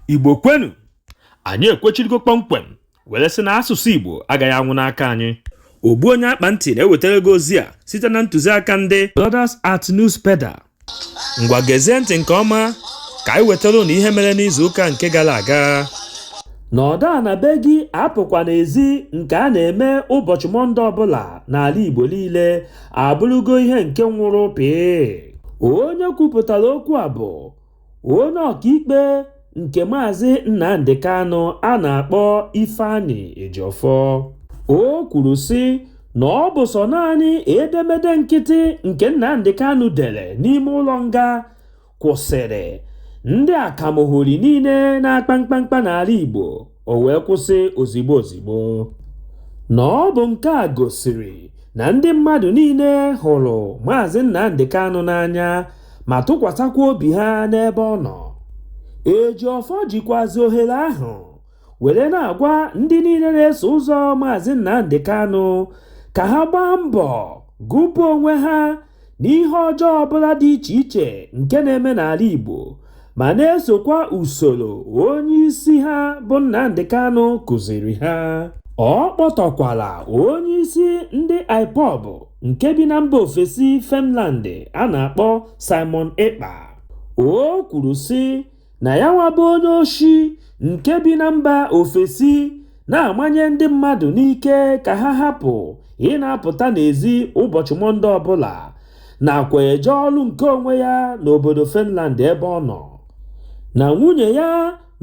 igbo kwenu anyị ekwechirigo kpọmkwem were sị na asụsụ igbo agaghị anwụ n'aka anyị ogbu onye akpa ntị na-ewetara gị ozi a site na ntụziaka ndị Brothers at Newspaper ngwa gezie ntị nke ọma ka anyị wetara ụnụ ihe mere n'izu ụka nke gara aga nọdụ ana be gị apụkwana ezi nke a na-eme ụbọchị mọnde ọbụla n'ala igbo niile abụrụgo ihe nke nwụrụ pịị onye kwupụtara okwu a bụ onye ọkaikpe nke maazị nnamdi kanu a na-akpọ ifeanyi ejiofor o kwuru sị na ọ bụ sọ naanị edemede nkịtị nke nnamdi kanu dere n'ime ụlọ nga kwụsịrị ndị akamohori niile na-akpa mkpamkpa n'ala Igbo o wee kwụsị ozigbo ozigbo na ọ bụ nke a gosiri na ndị mmadụ niile hụrụ Maazị Nnamdi Kanu n'anya ma tụkwasakwa obi ha n'ebe ọ nọ Ejiofor jikwazi ohere ahụ were na-agwa ndị niile na-eso ụzọ Maazị Nnamdi Kanu ka ha gbaa mbọ gụpụ onwe ha n'ihe ọjọọ ọbụla dị iche iche nke na-eme n'ala Igbo ma na-esokwa usoro onye isi ha bụ Nnamdi Kanu kụziiri ha ọ kpọtọkwala onye isi ndị IPOB nke bi na mba ofesi Finland a na-akpọ Simon Ekpa o kwuru sị na yanwa bụ onye oshi nke bi na mba ofesi na-amanye ndị mmadụ n'ike ka ha hapụ ịna-apụta n'ezi ụbọchị Mọnde ọbụla nakwa eje ọrụ nke onwe ya n'obodo Finland ebe ọ nọ na nwunye ya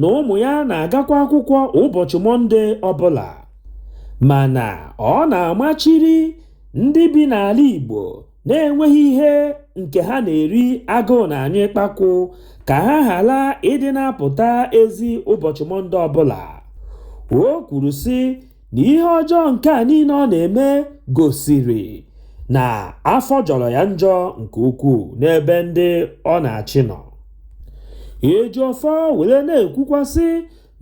na ụmụ ya na-agakwa akwụkwọ ụbọchị Mọnde ọbụla mana ọ na-amachiri ndị bi n'ala Igbo na-enweghị ihe nke ha na-eri agụụ na-anyụ ikpakwụ ka ha ghara ịdị na-apụta ezi ụbọchị mọnde ọbụla o kwuru sị na ihe ọjọọ nke a niile ọ na-eme gosiri na afọ jọrọ ya njọ nke ukwuu n'ebe ndị ọ na-achị nọ ejiofor were na-ekwukwa sị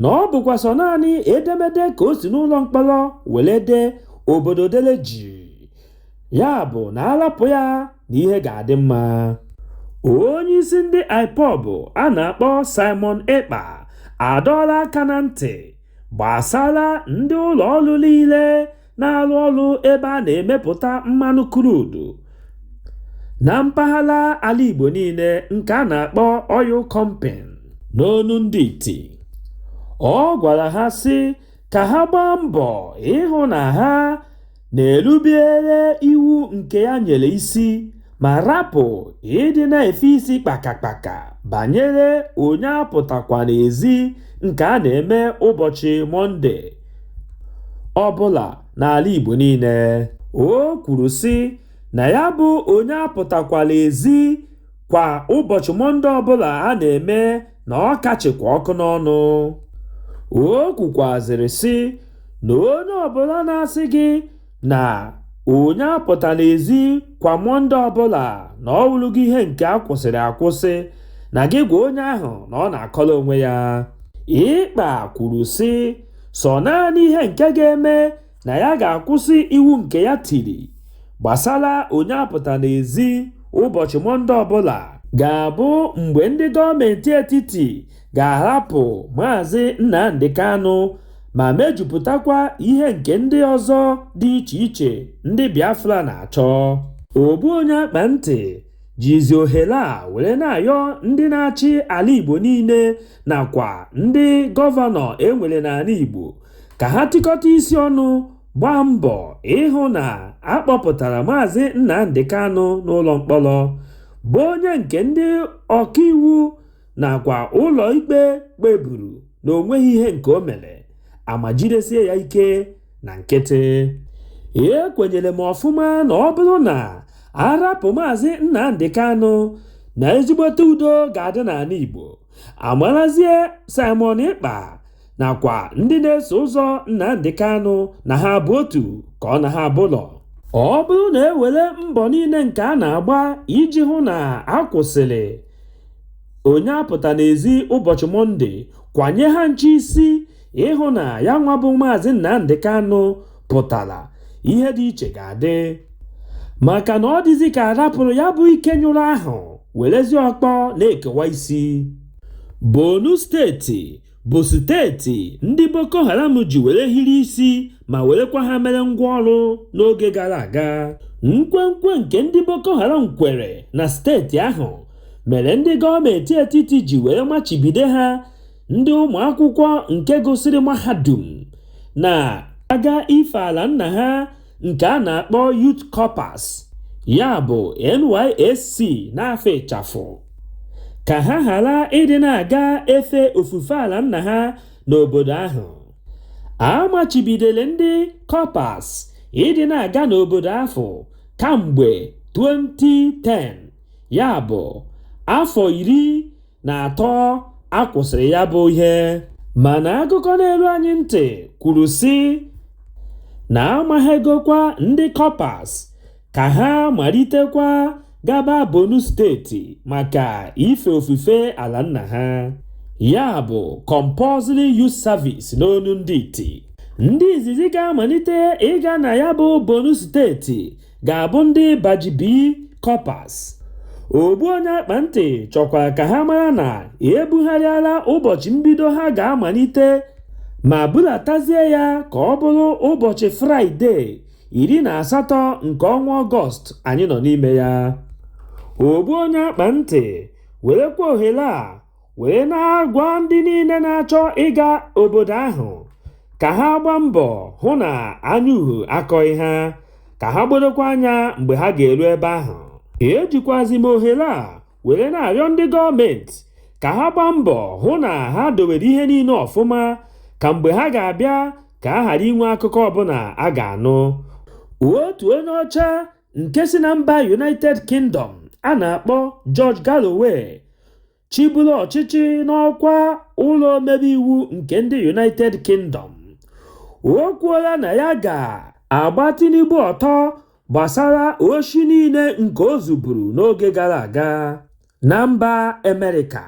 na ọ bụkwa sọ naanị edemede ka o si n'ụlọ mkpọrọ were dee obodo dele jii ya bụ na a rapụ ya na ihe ga-adị mma onye isi ndị ipob a na-akpọ simon ekpa adọọla aka na ntị gbasara ndị ụlọ ọrụ niile na-arụ ọrụ ebe a na-emepụta mmanụ crude na mpaghara ala igbo niile nke a na-akpọ oil company n'onu ndị iti ọ gwara ha sị ka ha gbaa mbọ ịhụ na ha na-erubere iwu nke ya nyere isi ma rapụ ịdị na-efe isi kpakakpaka banyere onye apụtakwana ezi nke a na-eme ụbọchị Mọnde ọbụla n'ala Igbo niile. O kwuru sị na ya bụ onye apụtakwana ezi kwa ụbọchị mọnde ọbụla a na-eme na ọ ka chịkwa ọkụ n'ọnụ o kwukwazịrị sị na onye ọbụla na-asị gị na onye apụtana ezi kwa mọnde ọbụla na ọ wụrụgo ihe nke a kwụsịrị akwụsị na gị gwa onye ahụ na ọ na-akọrọ onwe ya Ekpa kwuru sị sọ naanị ihe nke ga-eme na ya ga-akwụsị iwu nke ya tiri gbasara onye apụtana ezi ụbọchị Mọnde ọbụla ga-abụ mgbe ndị gọọmenti etiti ga-ahapụ Maazị Nnamdi Kanu ma mejupụtakwa ihe nke ndị ọzọ dị iche iche ndị Biafra na-achọ. Ogbu onye akpa ntị jizi ohere a were na-ayọ ndị na-achị ala Igbo niile nakwa ndị gọvanọ e nwere n'ala Igbo ka ha tikọta isi ọnụ gbaa mbọ ịhụ na a kpọpụtara Maazị Nnamdi Kanu n'ụlọ mkpọrọ, bụ onye nke ndị ọkaiwu nakwa ụlọikpe kpeburu na o nweghị ihe nke o mere, a ma jidesie ya ike na nkịtị. Ekwenyere m ọfụma na ọ bụrụ na a rapụ Maazị Nnamdi Kanu, na ezigbote udo ga-adị n'ala Igbo. amarazie Simon Ekpa nakwa ndị na-eso ụzọ Nnamdi Kanu na ha bụ otu ka ọ na ha abụlọ ọ bụrụ na e were mbọ niile nke a na-agba iji hụ na a kwụsịrị onye apụtana ezi ụbọchị Mọnde kwanye ha ncha isi ịhụ na ya nwa bụ maazị Nnamdi Kanu pụtara ihe dị iche ga-adị maka na ọ dịzi ka a rapụrụ ya bụ ike nyụrụ ahụ werezi ọkpọ na-ekewa isi Borno steeti bụ steeti ndị Boko Haram ji were hiri isi ma werekwa ha mere ngwa ọrụ n'oge gara aga nkwenkwe nke ndị Boko Haram kwere na steeti ahụ mere ndị gọọmenti etiti ji were machibido ha ndị ụmụ akwụkwọ nke gụsịrị mahadum na-aga ife ala nna ha nke a na-akpọ Youth Corpers ya bụ NYSC n'afa ịchafụ ka ha ghara ịdị na-aga efe ofufe ala nna ha n'obodo ahụ a machibidoro ndị Corpers ịdị na-aga n'obodo ahụ kamgbe 2010 ya bụ afọ iri na atọ a kwụsịrị ya bụ ihe mana akụkọ na-eru anyị ntị kwuru sị na amaghegokwa ndị Corpers ka ha malitekwa gaba Borno steeti maka ife ofufe ala nna ha ya bụ compulsory youth service n'onu ndị iti ndị izizi ga-amalite ịga na ya bụ Borno steeti ga-abụ ndị Batch B Corpers. Ogbu onye akpa ntị chọkwara ka ha mara na ebugharịala ụbọchị mbido ha ga-amalite ma bulatazie ya ka ọ bụrụ ụbọchị Fraịde iri na asatọ nke ọnwa Ọgọst anyị nọ n'ime ya. Ogbu onye akpa ntị werekwa ohere a wee na-agwa ndị niile na-achọ ịga obodo ahụ ka ha gbaa mbọ hụ na anya uhu akọghị ha ka ha gbodokwa anya mgbe ha ga-eru ebe ahụ ejikwazi m ohere a were na-arịọ ndị gọọmenti ka ha gbaa mbọ hụ na ha dowere ihe niile ọfụma ka mgbe ha ga-abịa ka a ghara inwe akụkọ ọbụla a ga-anụ otu onye ọcha nke si na mba United Kingdom a na-akpọ George Galloway chịburu ọchịchị n'ọkwa ụlọ omebe iwu nke ndị United Kingdom o kwuola na ya ga-agba Tinubu ọtọ gbasara oshi niile nke o zuburu n'oge gara aga. na mba Amerịka.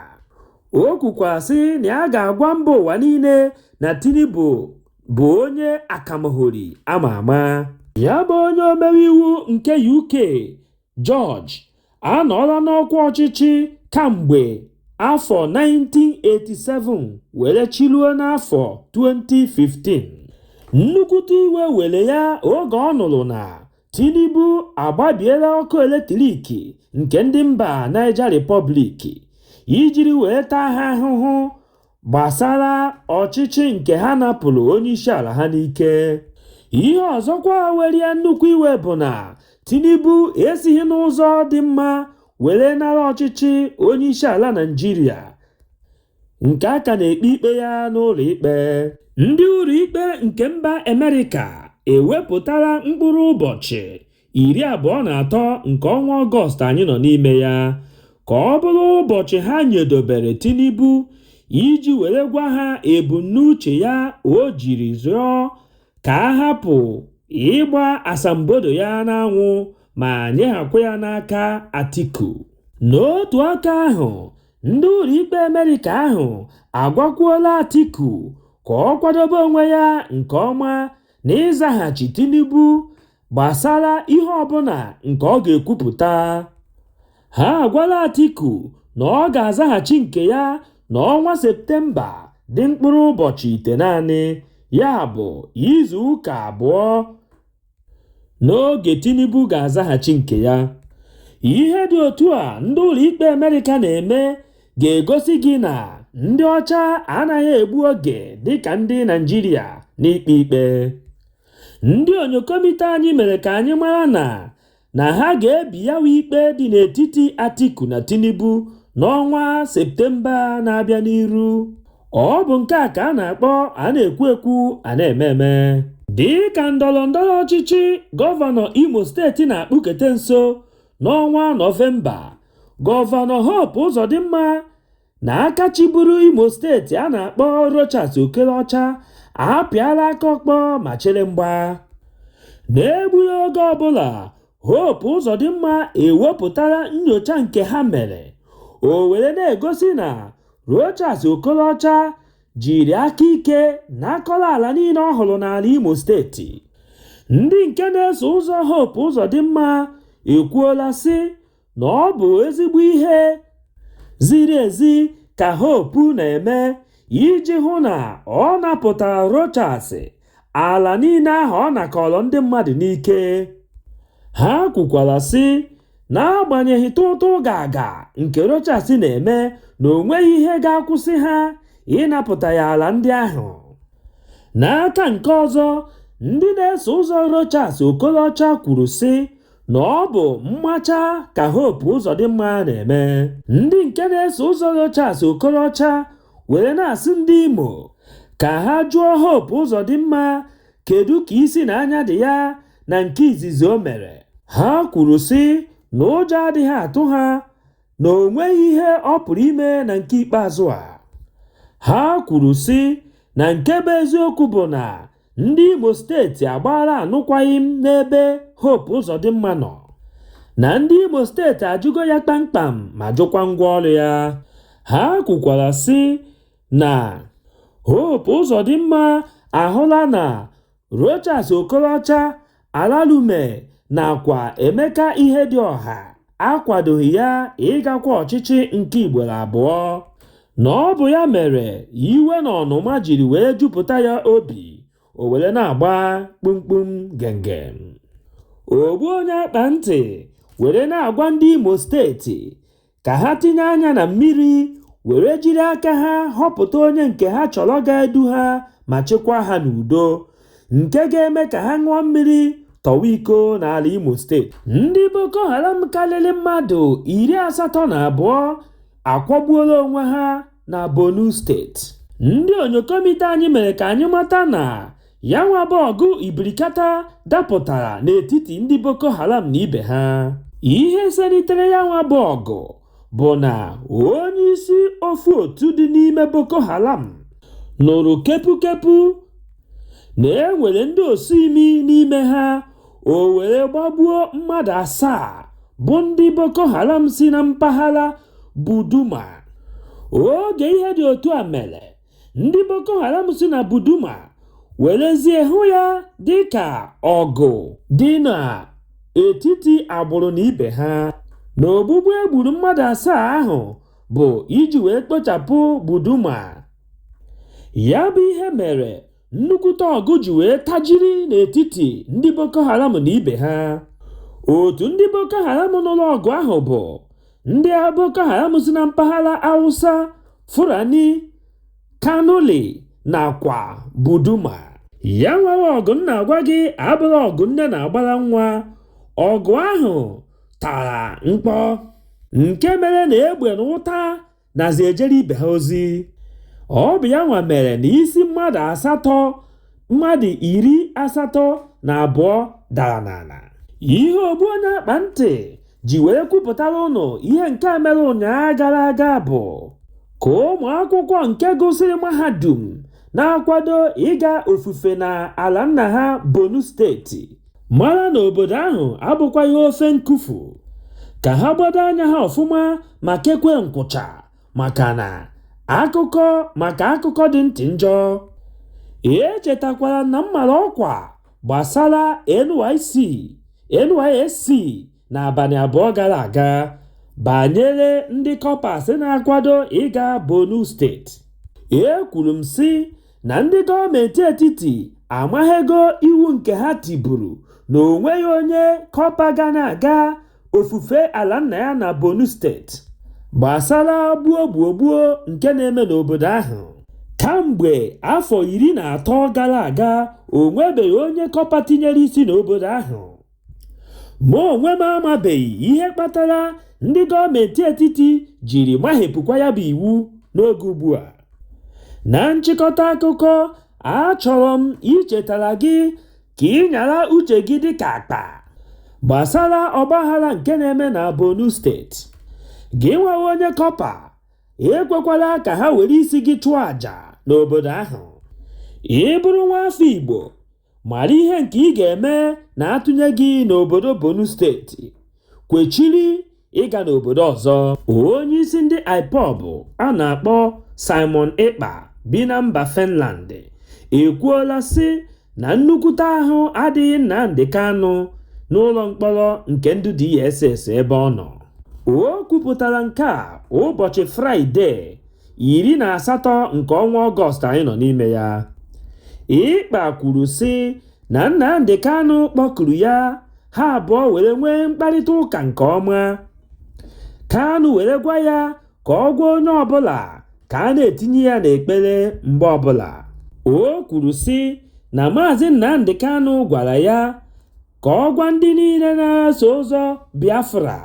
O kwukwa sị na ya ga-agwa mba ụwa niile na Tinubu bụ onye akamahori ama ama. Ya bụ onye omebe iwu nke UK, George, anọọla n'ọkwa ọchịchị kamgbe afọ 1987 were chịruo n'afọ 2015. Nnukwute iwe were ya oge ọ nụrụ na Tinubu agbabiela ọkụ eletrik nke ndị mba Niger Republic ijiri wee taa ha ahụhụ gbasara ọchịchị nke ha napụrụ onyeisiala ha n'ike. Ihe ọzọkwa were ya nnukwu iwe bụ na Tinubu esighị n'ụzọ dị mma were nara ọchịchị onyeisiala Naịjirịa. nke a ka na-ekpe ikpe ya n'ụlọ ikpe ndị ụlọ ikpe nke mba Amerịka ewepụtala mkpụrụ ụbọchị iri abụọ na atọ nke ọnwa Ọgọst anyị nọ n'ime ya ka ọ bụrụ ụbọchị ha nyedobere Tinubu iji were gwa ha ebumnuche ya o jiri zụọ ka a hapụ ịgba asambodo ya n'anwụ ma nyeghakwa ya n'aka Atiku n'otu aka ahụ Ndị ụlọikpe Amerịka ahụ agwakwuola Atiku ka ọ kwadobe onwe ya nke ọma n'ịzaghachi Tinubu gbasara ihe ọbụla nke ọ ga-ekwupụta. Ha agwala Atiku na ọ ga-azaghachi nke ya n'ọnwa Septemba dị mkpụrụ ụbọchị itenaanị, ya bụ izuụka abụọ. n'oge Tinubu ga-azaghachi nke ya. Ihe dị otu a ndị ụlọikpe Amerịka na-eme ga-egosi gị na ndị ọcha anaghị egbu oge dịka ndị Naịjirịa n'ikpe ikpe. Ndị onyokomite anyị mere ka anyị mara na na ha ga-ebi ya bụ ikpe dị n'etiti Atiku na Tinubu n'ọnwa Septemba na-abịa n'iru. Ọ bụ nke a ka a na-akpọ a na-ekwu ekwu a na-eme eme. Dị ka ndọrọ ndọrọ ọchịchị gọvanọ Imo steeti na-akpụkete nso n'ọnwa Nọvemba, Gọvanọ Hope Uzodimma na aka chịburu Imo steeti a na-akpọ Rochas Okorocha apịala aka ọkpọ ma chere mgba n'egbughị oge ọbụla Hope Uzodimma ewepụtara nyocha nke ha mere o were na-egosi na Rochas Okorocha jiri aka ike nakọrọ ala niile ọ hụrụ n'ala Imo steeti ndị nke na-eso ụzọ Hope Uzodimma ekwuola sị na ọ bụ ezigbo ihe ziri ezi ka Hope na-eme iji hụ na ọ napụtara Rochas ala niile ahụ ọ nakọrọ ndị mmadụ n'ike. Ha kwukwara, sị, N'agbanyeghị tụụtụ gaga nke Rochas na-eme na o nweghị ihe ga-akwụsị ha ịnapụta ya ala ndị ahụ. N'aka nke ọzọ, ndị na-eso ụzọ Rochas Okorocha kwuru, sị, na ọ bụ mmacha ka Hope Uzodimma na-eme ndị nke na-eso ụzọ Rochas Okorocha were na-asị ndị Imo ka ha jụọ Hope Uzodimma kedu ka isi na anya dị ya na nke izizi o mere ha kwuru sị na ụjọ adịghị atụ ha na o nweghị ihe ọ pụrụ ime na nke ikpeazụ a ha kwuru sị na nke bụ eziokwu bụ na Ndị Imo steeti agbaala anụkwaghịm n'ebe Hope Uzodimma nọ na ndị Imo steeti ajụgo ya kpamkpam ma jụkwa ngwa ọrụ ya. Ha kwukwara sị na Hope Uzodimma ahụla na Rochas Okorocha Ararume nakwa Emeka Ihedioha akwadoghị ya ịgakwa ọchịchị nke ugboro abụọ, na ọ bụ ya mere iwe na ọnụma jiri wee jupụta ya obi, o were na-agba kpumkpum gengem. Ogbu onye akpa ntị were na-agwa ndị Imo steeti ka ha tinye anya na mmiri were jiri aka ha họpụta onye nke ha chọrọ ga-edu ha ma chịkwaa ha n'udo nke ga-eme ka ha ṅụọ mmiri tọwa iko n'ala Imo steeti ndị Boko Haram karịrị mmadụ iri asatọ na abụọ akwagbuola onwe ha na Borno steeti ndị onyokomite anyị mere ka anyị mata na Ya nwa bụ ọgụ ibirikata dapụtara n'etiti ndị Boko Haram na ibe ha. Ihe selitere ya nwa bụ ọgụ bụ na onyeisi ofu otu dị n'ime Boko Haram nụrụ kepukepu na e nwere ndị osi imi n'ime ha o were gbagbuo mmadụ asaa bụ ndị Boko Haram si na mpaghara Buduma. Oge ihe dị otu a mere, ndị Boko Haram si na Buduma werezie hụ ya dị ka ọgụ dị n'etiti agbụrụ na ibe ha na ogbugbu e gburu mmadụ asaa ahụ bụ iji wee kpochapụ Buduma. Ya bụ ihe mere nnukwute ọgụ ji wee tajiri n'etiti ndị Boko Haram na ibe ha otu ndị Boko Haram nụrụ ọgụ ahụ bụ ndị Boko Haram si na mpaghara Hausa Fulani Kanuri nakwa Buduma ya nwa bụ ọgụ m na-agwa gị abụrọ ọgụ nne na-agbara nwa ọgụ ahụ tara mkpọ nke mere na egbe na ụta nazi ejere ibe ha ozi ọ bụ ya nwa mere na isi mmadụ asatọ mmadụ iri asatọ na abụọ dara n'ala ihe ogbu onye akpa ntị ji wee kwupụtara unu ihe nke a mere ụnyaahụ gara aga bụ ka ụmụ akwụkwọ nke gụsịrị mahadum na-akwado ịga ofufe na ala nna ha Borno steeti mara na obodo ahụ abụkwaghị ofe nkufu ka ha gbado anya ha ọfụma ma kekwe nkwụcha maka na akụkọ maka akụkọ dị ntị njọ echetakwara na m mara ọkwa gbasara NYC NYSC n'abalị abụọ gara aga banyere ndị kọpas na-akwado ịga Borno steeti ekwuru m sị na ndị gọọmenti etiti amaghego iwu nke ha tiburu na o nweghị onye kọpa ga na-aga ofufe ala nna ya na Borno steeti gbasara gbuo gbuo gbuo nke na-eme n'obodo ahụ kamgbe afọ iri na atọ gara aga o nwebeghị onye kọpa tinyere isi n'obodo ahụ Mụ onwe m amabeghị ihe kpatara ndị gọọmentị etiti jiri mahepụkwa ya bụ iwu n'oge ugbua. Na nchịkọta akụkọ, achọrọ m ichetara gị ka ị nyara uche gị dịka akpa gbasara ọgbaghara nke na-eme na Borno steeti. Gị nwa onye kọpa, ekwekwala ka ha were isi gị chụọ aja n'obodo ahụ. Ị bụrụ nwaafọ Igbo, mara ihe nke ị ga-eme na a tụnye gị n'obodo Borno steeti kwechiri ịga n'obodo ọzọ onye isi ndị IPOB a na-akpọ Simon Ekpa bi na mba Finland ekwuola sị na nnukwute ahụ adịghị Nnamdi Kanu n'ụlọ mkpọrọ nke ndị DSS ebe ọ nọ o kwupụtara nke a ụbọchị Fraịde iri na asatọ nke ọnwa Ọgọst anyị nọ n'ime ya. Ekpa kwuru sị na Nnamdi Kanu kpọkuru ya ha abụọ were nwee mkparịta ụka nke ọma. Kanu were gwa ya ka ọ gwa onye ọbụla ka a na-etinye ya n'ekpere mgbe ọbụla. O kwuru sị na Maazị Nnamdi Kanu gwara ya ka ọ gwa ndị niile na-eso ụzọ Biafra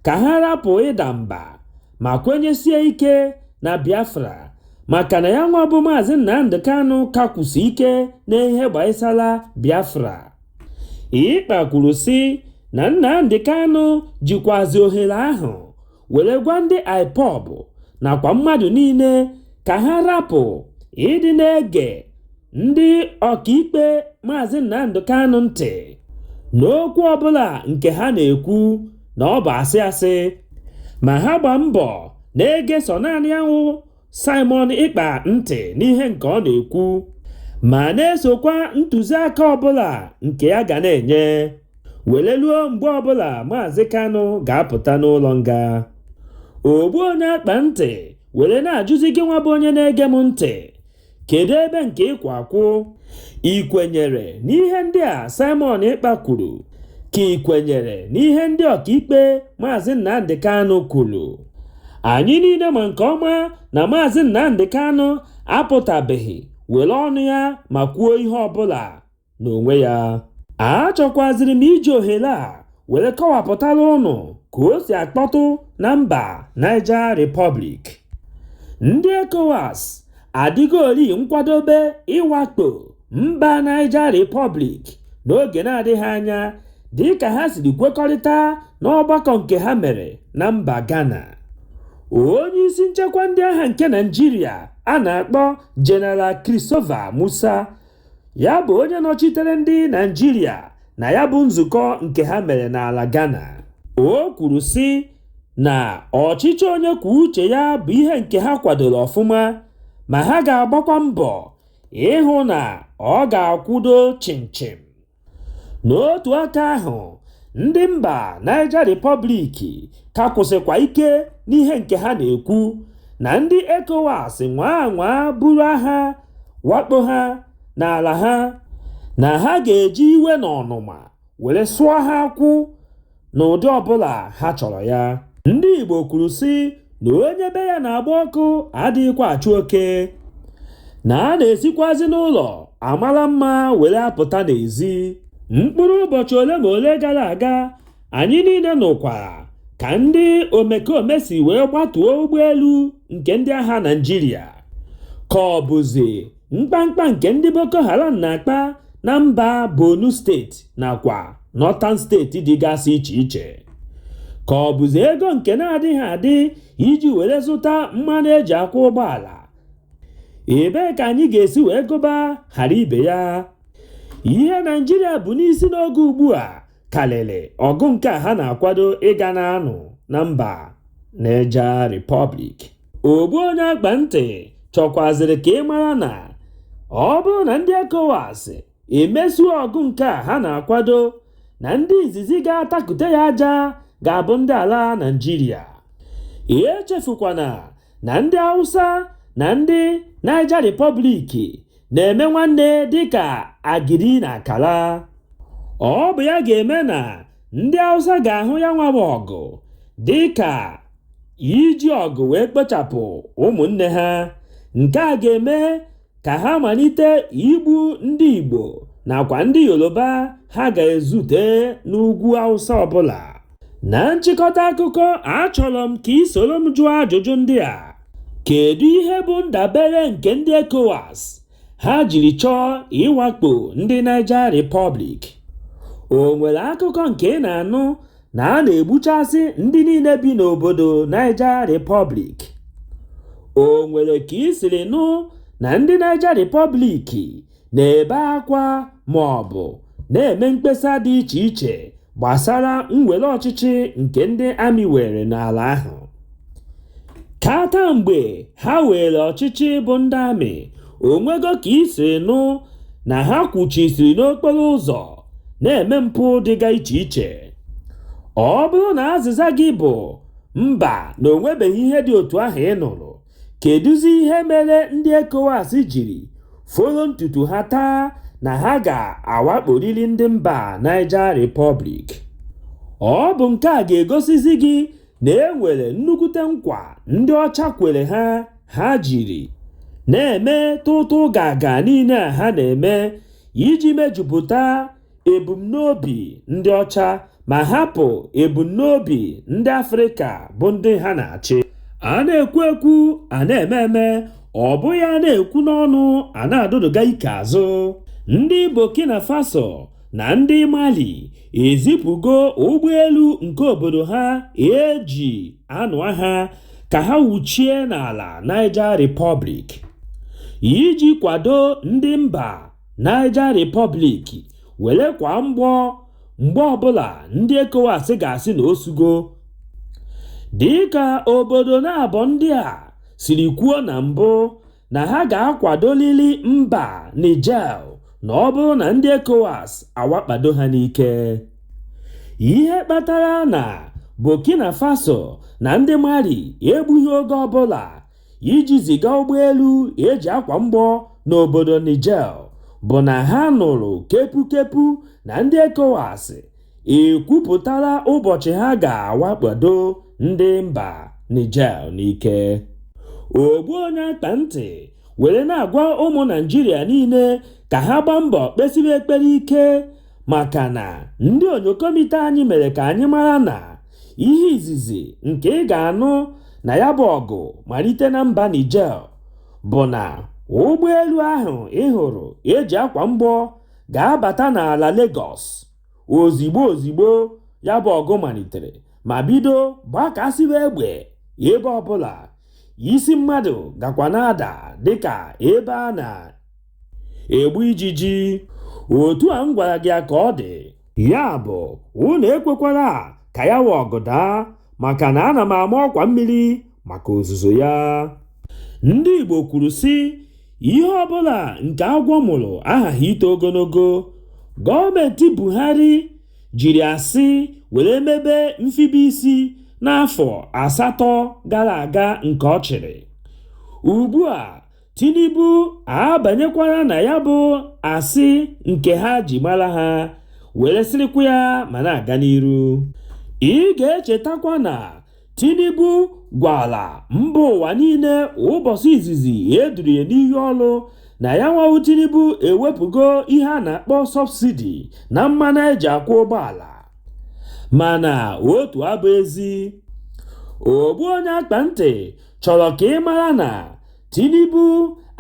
ka ha rapụ ịda mba ma kwenyesie ike na Biafra maka na ya nwa bụ Maazị Nnamdi Kanu ka kwụsi ike n'ihe gbasara Biafra Ekpa kwuru sị na Nnamdi Kanu jikwazi ohere ahụ were gwa ndị IPOB nakwa mmadụ niile ka ha rapụ ịdị na-ege ndị ọkaikpe Maazị Nnamdi Kanu ntị n'okwu ọbụla nke ha na-ekwu na ọ bụ asị asị ma ha gba mbọ na-ege sọ naanị ya nwa Simon Ekpa ntị n'ihe nke ọ na-ekwu ma na-esokwa ntụziaka ọbụla nke ya ga na-enye wele luo mgbe ọbụla Maazị Kanu ga-apụta n'ụlọ nga ogbu onye akpa ntị were na-ajụzi gị nwa bụ onye na-ege m ntị Kedu ebe nke ị kwụ akwụ? Ị kwenyere n'ihe ndị a Simon Ekpa kwuru? Ka ị kwenyere n'ihe ndị ọkaikpe Maazị Nnamdi Kanu kwuru? Anyị niile ma nke ọma na Maazị Nnamdi Kanu apụtabeghị were ọnụ ya ma kwuo ihe ọbụla. n'onwe ya achọkwaziri m iji ohere a were kọwapụtara ụnụ ka o si akpọtụ na mba Niger Republic ndị ECOWAS adịgori nkwadobe ịwakpo mba Niger Republic n'oge na-adịghị anya dịka ha siri kwekọrịta n'ọgbakọ nke ha mere na mba Ghana onye isi nchekwa ndị agha nke Naịjirịa a na-akpọ General Christopher Musa ya bụ onye nọchitere ndị naịjirịa na ya bụ nzukọ nke ha mere n'ala ghana o kwuru sị na ọchịchị onye kwuo uche ya bụ ihe nke ha kwadoro ọfụma ma ha ga-agbakwa mbọ ịhụ na ọ ga-akwụdo chịmchịm n'otu aka ahụ ndị mba Niger Republic ka kwụsịkwa ike n'ihe nke ha na-ekwu na ndị ECOWAS nwaa anwaa buru agha wakpo ha n'ala ha, na ha ga-eji iwe na ọnụma were sụọ ha akwụ. n'ụdị ọbụla ha chọrọ ya ndị Igbo kwuru sị na onye be ya na-agba ọkụ adịghịkwa achụ oke na a na-esikwazi n'ụlọ amara mma were apụta n'ezi mkpụrụ ụbọchị ole ma ole gara aga anyị niile nụkwara ka ndị omekome si wee gbatuo ụgbọelu nke ndị agha Naịjirịa ka ọ bụzi Mkpamkpa nke ndị Boko Haram na-akpa na mba Borno steeti nakwa Northern steeti dịgasị iche iche. Ka ọ bụzi ego nke na-adịghị adị iji were zụta mmanụ e ji akwọ ụgbọala. Ebee ka anyị ga-esi wee gụba ghara ibe ya? Ihe Naịjirịa bu n'isi n'oge ugbu a karịrị ọgụ nke a ha na-akwado ịga na-anụ na mba Niger Republic. ogbu onye akpa ntị chọkwaziri ka ị mara na ọ bụrụ na ndị ECOWAS emesuo ọgụ nke a ha na-akwado na ndị izizi ga-atakute ya aja ga-abụ ndị ala Naịjirịa echefukwana na ndị Awụsa na ndị Niger Republic na-eme nwanne dịka agidi na akara ọ bụ ya ga-eme na ndị Awụsa ga-ahụ ya nwa ọgụ dịka iji ọgụ wee kpochapụ ụmụnne ha nke a ga-eme ka ha malite igbu ndị Igbo nakwa ndị Yoruba ha ga-ezute n'ugwu Awụsa ọbụla na nchịkọta akụkọ achọrọ m ka i soro m jụọ ajụjụ ndị a kedu ihe bụ ndabere nke ndị ECOWAS ha jiri chọọ ịwakpo ndị Niger Republic o nwere akụkọ nke ị na-anụ na a na-egbuchasị ndị niile bi n'obodo Niger Republic o nwere ka i siri nụ na ndị Niger Republic na-ebe akwa ma ọ bụ na-eme mkpesa dị iche iche gbasara mwere ọchịchị nke ndị amị were n'ala ahụ kata mgbe ha weere ọchịchị bụ ndị amị o nwego ka i siri nụ na ha kwụchisiri n'okporo ụzọ na-eme mpụ dịga iche iche ọ bụrụ na azịza gị bụ mba na o nwebeghị ihe dị otu ahụ ị nụrụ Kedụzi ihe mere ndị ECOWAS jiri folo ntutu ha taa na ha ga-awakporiri ndị mba Niger Republic? Ọ bụ nke a ga-egosizi gị na e nwere nnukwute nkwa ndị ọcha kwere ha ha jiri na-eme tụtụụgaagaa niile a ha na-eme iji mejupụta ebumnobi ndị ọcha ma hapụ ebumnobi ndị Afrịka bụ ndị ha na-achị. A na-ekwu ekwu, a na-eme eme, ọ bụghị a na-ekwu n'ọnụ a na-adụdụga ike azụ. Ndị Burkina Faso na ndị Mali ezipụgo ụgbọelu nke obodo ha e ji anụ agha ka ha wuchie n'ala Niger Republic iji kwado ndị mba Niger Republic were kwa mgbọ mgbe ọbụla ndị ECOWAS ga-asị na o sugo dịka obodo naabọ ndị a siri kwuo na mbụ na ha ga-akwadolili mba Niger na ọ bụrụ na ndị ECOWAS awakpado ha n'ike ihe kpatara na Burkina Faso na ndị Mali egbughị oge ọbụla iji ziga ụgbọelu e ji akwa mgbọ n'obodo Niger bụ na ha nụrụ kepukepu na ndị ECOWAS ekwupụtala ụbọchị ha ga-awakpado ndị mba Niger n'ike. Ogbu onye akpa ntị were na-agwa ụmụ Naịjirịa niile ka ha gbaa mbọ kpesibe ekpere ike maka na ndị onyokomite anyị mere ka anyị mara na ihe izizi nke ị ga-anụ na ya bụ ọgụ malite na mba Niger bụ na ụgbọelu ahụ ị hụrụ e ji akwa mgbọ ga-abata n'ala Lagos ozigbo ozigbo ya bụ ọgụ malitere ma bido gbakasịwa egbe ebe ọbụla isi mmadụ gakwa na-ada dịka ebe a na egbu ijiji otu a m gwara gị a ka ọ dị ya bụ unu ekwekwala ka ya wụ ọgụ daa maka na ana m ama ọkwa mmiri maka ozuzo ya ndị Igbo kwuru sị ihe ọbụla nke agwọ mụrụ ahaghị ito ogologo gọọmenti Buhari jiri asị were mebe mfibe isi n'afọ asatọ gara aga nke ọ chịrị ugbu a Tinubu abanyekwara na ya bụ asị nke ha ji mara ha were sịrịkwa ya ma na-aga n'iru. Ị ga-echetakwa na Tinubu gwara mba ụwa niile ụbọchị izizi e duru ya n'iyi ọrụ na yanwa wụ Tinubu ewepụgo ihe a na-akpọ sọbsidi na mmanụ eji akwọ ụgbọala mana otu abụ ezi ogbu onye akpa ntị chọrọ ka ị mara na Tinubu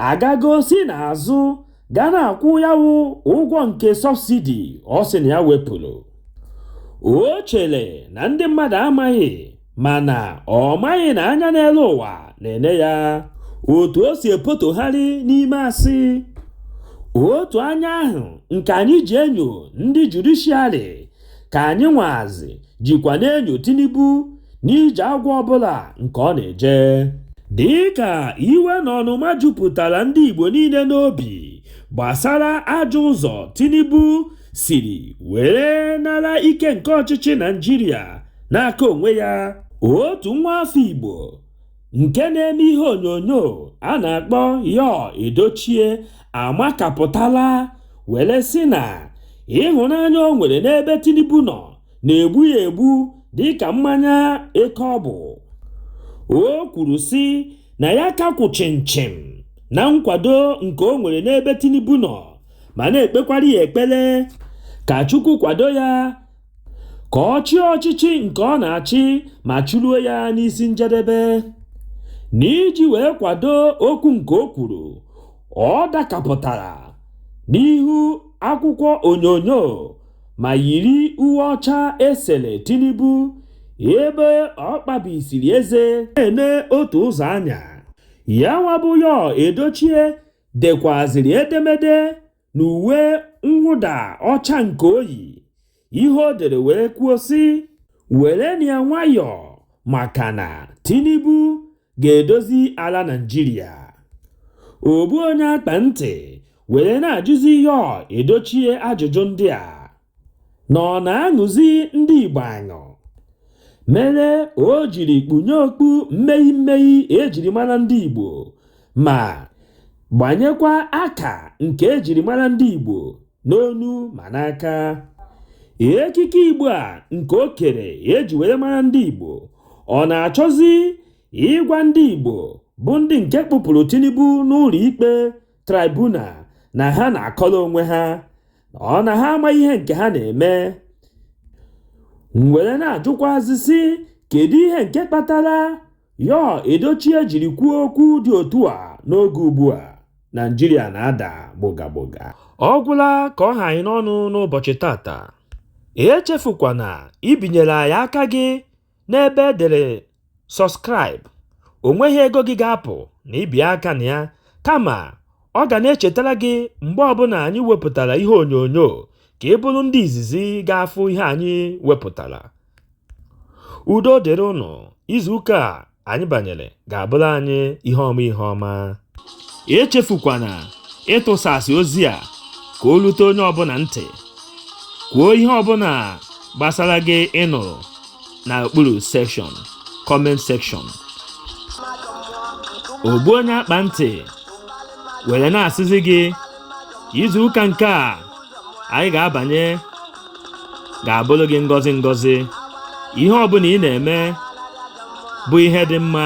agago si n'azụ ga na-akwụ ya wụ ụgwọ nke sọbsidi ọ sị na ya wepụrụ o chere na ndị mmadụ amaghị mana ọ maghị na anya n'elu ụwa na-ene ya otu o si epotogharị n'ime asị otu anya ahụ nke anyị ji enyo ndị judishiarị ka anyịnwazị jikwa na-enyo Tinubu n'ije agwọ ọbụla nke ọ na-eje dịka iwe na ọnụma jupụtara ndị Igbo niile n'obi gbasara ajọ ụzọ Tinubu siri were nara ike nke ọchịchị Naịjirịa n'aka onwe ya otu nwa afọ Igbo nke na-eme ihe onyonyo a na-akpọ Yul Edochie amakapụtala were sị na ịhụnanya o nwere n'ebe Tinubu nọ na-egbu ya egbu dịka mmanya eke ọ bụ. O kwuru sị na ya ka kwụ chịmchịm na nkwado nke o nwere n'ebe Tinubu nọ ma na-ekpekwara ya ekpere ka Chukwu kwado ya ka ọ chịa ọchịchị nke ọ na-achị ma chịruo ya n'isi njedebe. N'iji wee kwado okwu nke o kwuru, ọ dakapụtara n'ihu akwụkwọ onyonyo ma yiri uwe ọcha esere Tinubu ebe ọ kpabisiri eze na-ene otu ụzọ anya. Yanwa bụ Yul Edochie dekwaziri edemede na uwe mwụda ọcha nke o yi ihe o dere wee kwuo sị werenu ya nwayọọ maka na Tinubu ga-edozi ala Naịjirịa ogbu onye akpa ntị were na-ajụzi Yul Edochie ajụjụ ndị a na ọ na-aṅụzi ndị Igbo aṅụ mere o jiri kpunye okpu mmee mmee ejiri mara ndị Igbo ma gbanyekwa aka nke ejiri mara ndị Igbo n'onu ma n'aka ekike Igbo a nke o kere eji were mara ndị Igbo ọ na-achọzi ịgwa ndị Igbo bụ ndị nke kpụpụrụ Tinubu n'ụlọ ikpe tribunal na ha na-akọrọ onwe ha ọ na ha amaghị ihe nke ha na-eme were na-ajụkwazị sị kedu ihe nke kpatara yul edochie jiri kwuo okwu dị otu a n'oge ugbu a naijiria na-ada gbogagboga ọ gwụla ka ọ ha anyị n'ọnụ n'ụbọchị tata echefukwana ibinyere anyị aka gị n'ebe e dere sọskraịb o nweghị ego gị ga-apụ na ibi aka na ya kama ọ ga na-echetara gị mgbe ọbụla anyị wepụtara ihe onyonyo ka ị bụrụ ndị izizi ga-afụ ihe anyị wepụtara udo dịrị unu izuụka a anyị banyere ga-abụrụ anyị ihe ọma ihe ọma echefukwana ịtụsasị ozi a ka o lute onye ọbụla ntị kwuo ihe ọbụla gbasara gị ị nụrụ na okpuru sekshọn kọment sekshọn ogbu onye akpa ntị were na-asịzi gị izu ụka nke a anyị ga-abanye ga-abụrụ gị ngọzi ngọzi ihe ọbụla ị na-eme bụ ihe dị mma